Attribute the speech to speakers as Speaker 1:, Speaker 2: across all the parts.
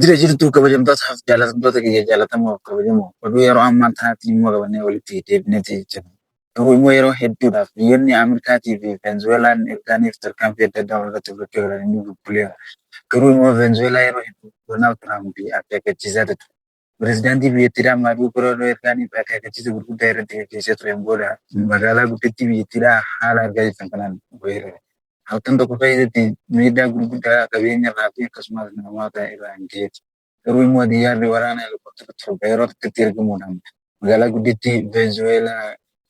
Speaker 1: Jira jirtuu kabajamtoota haaf jaalatamtoota kiyya jaalatamoo kabajamoo oduu yeroo ammaa tanaatti immoo qabannee walitti deebineeti jira. Garuu immoo yeroo hedduudhaaf biyyoonni Ameerikaatii fi Veenzuweelaan Irgaaniif tarkaanfii adda addaa walirratti fudhachaa jiran inni bubbuleera. Garuu immoo Veenzuweelaa yeroo hedduu Doonaald Tiraamp akeekkachiisaa ture. Pirezidaantii biyyattiidhaa Maaduukuroo Ergaaniif akeekkachiisa gurguddaa irratti gaggeessee tureen booda magaalaa guddittii biyyattiidhaa haala argaa jirtan kanaan weerare. Halkan tokko keessatti miidhaa gurguddaa qabeenya irraa fi akkasumas namoota irraan gaheeti. Garuu immoo xiyyaarri waraana helikoptara torba yeroo takkatti ergamuudhaan magaalaa guddittii Venezuweelaa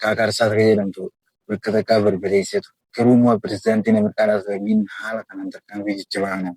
Speaker 1: Kaakaarsaas akka jedhamtu bakka takkaa barbadeessee ture. Garuu immoo pirezidaantiin Ameerikaa Raasvaagiin haala kanaan tarkaanfii jajjabaa kanaan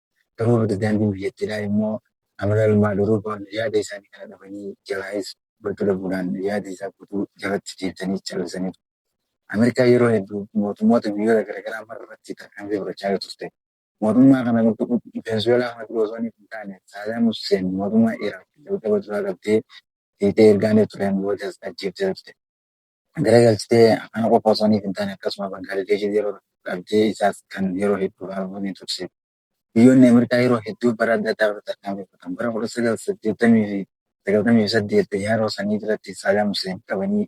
Speaker 1: Garuu pirezidaantiin biyyattiidhaa immoo Amiraal Maaduroo fa'aan yaada isaanii kana dhabanii jalaayis hubachuu dhabuudhaan yaada isaa guutuu jalatti deebisanii callisaniiru. Ameerikaan yeroo heddu mootummoota biyyoota garagaraa mara irratti tarkaanfii fudhachaa yoo turte mootummaa kana Veenzuweelaa kana dura osoo inni hin taane Saadaam Husseen mootummaa Iraaq jalqaba duraa qabdee fiixee ergaanee tureen boodas ajjeeftee turte. garagalchitee ana qofa osoo hin taane akkasuma Bangaadeeshiif yeroo dhabdee isaas kan yeroo hedduu haaluu ni turse. Biyyoonni Ameerikaa yeroo hedduu bara adda addaa irratti tarkaanfii fudhatan. Bara 1998 xiyyaaroo sanii irratti Saadaam Huseen qabanii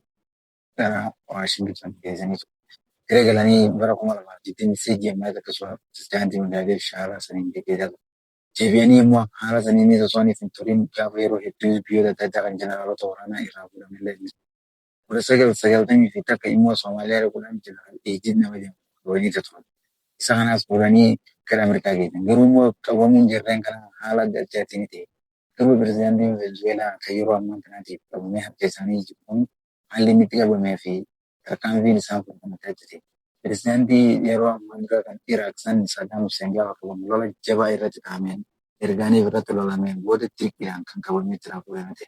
Speaker 1: gara Waashingiton geessanii turan. Gara galanii bara 2023 ammaas akkasuma pirezidaantii Bangaadeesh haala saniin geggeessaa turan. Deebi'anii immoo haala saniinis osoo hin turin gaafa yeroo hedduu biyyoota adda addaa kan jeneraalota waraanaa irraa fuudhamellee ni turan. 1991 immoo Somaaliyaa dhaquudhaan Jeneraal Eejiid nama jedhamu kolonii isa turan. Isa kanas fuudhanii gara Ameerikaa geessan. Garuu immoo qabamuun jarreen kanaa haala adda addaatiin ni ta'e. Garuu pirezidaantiin Venezuweelaa kan yeroo ammaa kanaatiif qabamee harka isaanii jiru kun haalli inni itti qabamee fi tarkaanfiin isaan fudhatan adda adda ta'e. Pirezidaantii yeroo ammaa dura kan Iraaq san Saadaam Huseen gaafa qabamu lola jabaa irratti dhahameen ergaaniif irratti lolameen booda dirqiidhaan kan qabamee itti raafuu ta'e.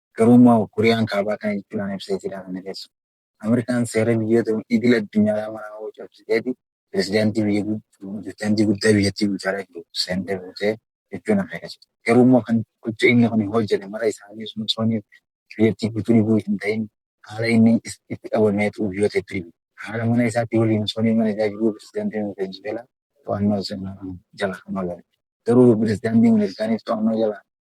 Speaker 1: Garuu immoo Kooriyaan Kaabaa kana jechuudhaan ibsee jira kana keessa. Ameerikaan seera biyyoota idil addunyaa maraa hoo cabsiteeti pirezidaantii biyya pirezidaantii guddaa biyyattii bulchaa jiru seentee buutee jechuun akeekachaa jira. Garuu immoo kan gocha inni kun hojjete mara isaanii sun osoo inni biyyattii guutuu dhibuu hin ta'in haala inni itti qabameetu biyyoota itti dhibu. Haala mana isaatti waliin osoo inni mana isaa jiruu pirezidaantiin Venezuweelaa to'annoo jala kan oole. Garuu pirezidaantiin Ameerikaaniif to'annoo jala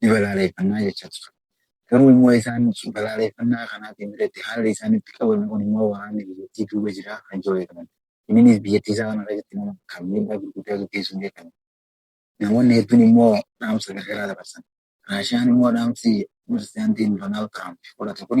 Speaker 1: ni balaaleeffannaa jechaa ture. Garuu immoo isaan balaaleeffannaa kanaatiin biratti haalli isaan itti qabame kun immoo waraanni biyyattii duuba jira kan jedhu beekaman. Inninis biyyattii isaa kana keessatti nama kan miidhaa gurguddaa gaggeessuun beekame. Namoonni hedduun immoo dhaamsa gargaraa dabarsan. Raashiyaan immoo dhaamsi Pirezidaantiin Doonaald Tiraamp fudhate kun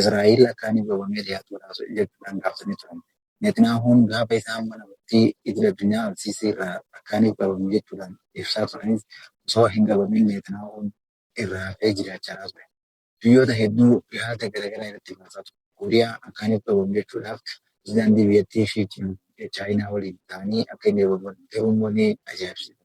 Speaker 1: Israa'el akka ani goobamee dhihaatu godha jechuudhaan gaafatanii turan. Neetniyaahuun gaafa isaan mana murtii idil addunyaa Al-Siisii irraa akka ani goobame jechuudhaan ibsaa turanis osoo hin goobamin Neetniyaahuun irraa hafee jiraachaa ture. Biyyoota hedduu dhihaata garagaraa irratti baasaa ture. Kooriyaa akka ani goobamu jechuudhaaf pirezidaantii biyyattii Shii Jiinpiing Chaayinaa waliin ta'anii akka inni goobamu godhan garuu immoo ni ajaa'ibsiifadha.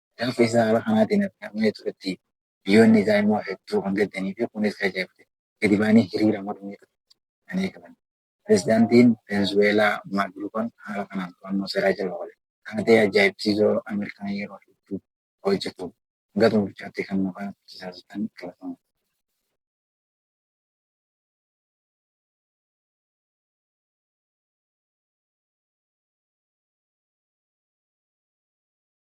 Speaker 1: Gaafa isaa haala kanaatiin argamee turetti biyyoonni isaa immoo hedduu kan gaddanii fi kunis kan ajaa'ibsiise gadi ba'anii hiriira mormii kan eegalan. Pirezidaantiin Venezuweelaa Maaduroon haala kanaan to'annoo seeraa jala oole. Taatee ajaa'ibsiisoo Ameerikaan yeroo hedduu hojjetu hanga xumurichaatti kan nu agarsiistan galatooma.